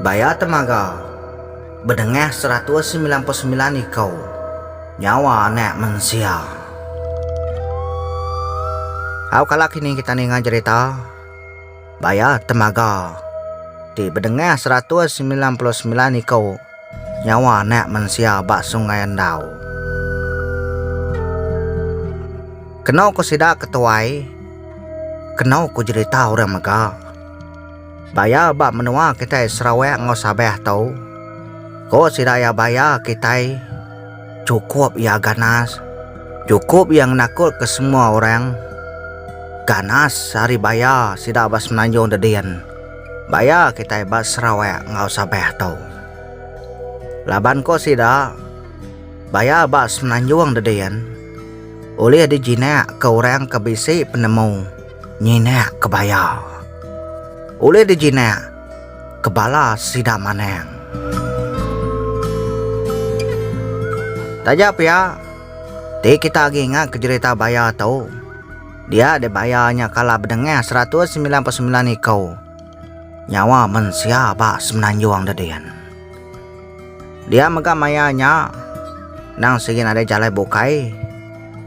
Baya temaga, bedengah seratus semilan puluh semilan iko nyawa anak mensia. Au kala kini kita ninga jerita. Baya temaga ti bedengah seratus semilan puluh semilan iku nyawa anak mensia ba Sungai Endau. Kenu ku sida ke tuai, kenu ku jerita orang mega. Baya ba menua kitai Sarawak enggau Sabah tu, ku sida iya baya kitai Chukup iya ganas. Chukup iya ngenakulka semua orang. Ganas ari baya sida ba Semenanjung Dedin. Baya kitai ba Sarawak enggau Sabah tu. Laban ko sida, baya ba Semenanjung Dedin ulih dijinak ke orang ke bisi penemu nyinak ke baya. Ulih dijinak ke bala sida manang. Taja pia, ti kita agi ingat ke jerita baya tu, dia dek baya nya kala bedengah seratus semilan puluh semilan iku nyawa mensia ba Semenanjung da din. Dia mega maya nya endang sigi nadai jalai bukai.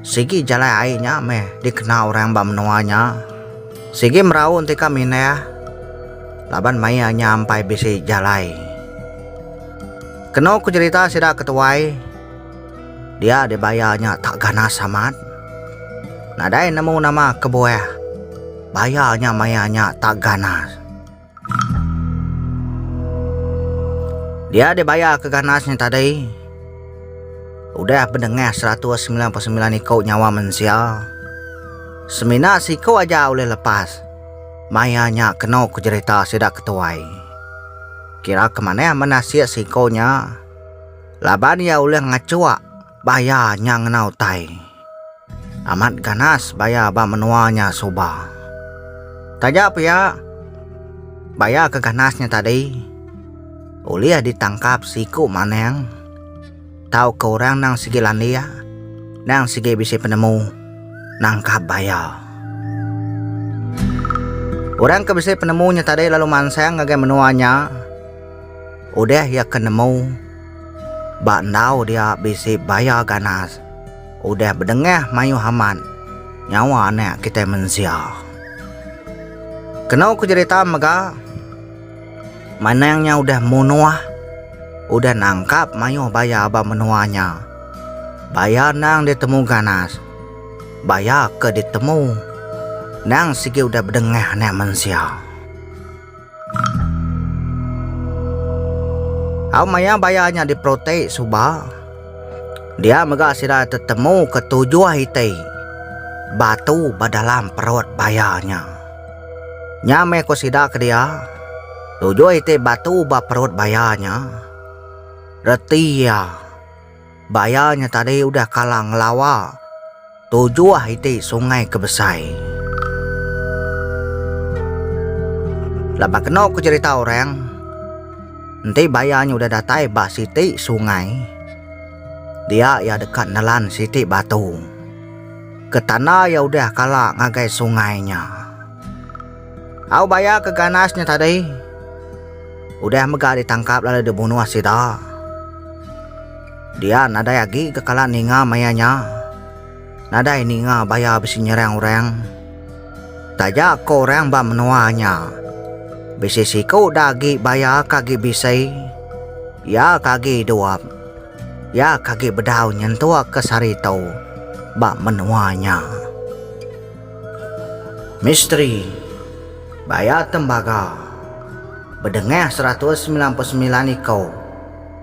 Sigi jalai ai nya meh dikena orang ba menua nya. Sigi merau entika mindah laban maya nya ampai bisi jalai. Kenu ku jerita sida ke tuai, dia di baya nya tak ganas amat. Nadai nemu nama kebuah baya nya maya nya tak ganas. Dia dibayar ke ganas nya tadi udah bedengah seratus semilan puluh semilan iku nyawa mensia. Semina siku aja ulih lepas. Maya nya kenu ke jerita sida ke tuai. Kira ke manah manah sik siku nya laban iya ulih ngachuk baya nya ngena utai. Amat ganas baya ba menua nya suba. Taja pia, baya ke ganas nya tadi ulih ditangkap siku manang tauka orang nang sigi landik, nang sigi bisi penemu nangkap baya. Orang ke bisi penemu nya tadi lalu mansang ngagai menua nya udah iya ke nemu Ba enggau dia bisi baya ganas, udah bedengah mayuh amat nyawa anak kitai mensia. Kenu ku jerita mega, Manang nya udah munuh, udah nangkap mayuh baya ba menua nya. Baya endang ditemu ganas, baya ke ditemu endang sigi udah bedengah anak mensia. Au maya baya nya diperoti suba, dia mega sida tetemu ke tujuh iti batu ba dalam perut baya nya. Nya meh ku sida kedia, Tujuh iti batu ba perut baya nya reti iya. Ba iya nya tadi udah kala ngelawa tujuh iti sungai ke besai. Laban kenu ke cerita orang, enti ba iya nya udah datai ba siti sungai, dia iya deka nelan siti batu ke tanda iya udah kala ngagai sungai nya. Au baya ke ganas nya tadi udah mega ditangkap lalu dibunuh sida. Dia nadai agi ke kala ninga maya nya. Nadai ninga baya bisi nyerang orang. Taja ko orang ba menua nya, bisi siku da agi baya ke agi bisi, iya ke agi idup, iya ke agi bedau nyentuk ke sehari tu ba menua nya. Misteri bayar tembaga bedengah seratus semilan puluh semilan iku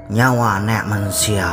nyawa anak mensia.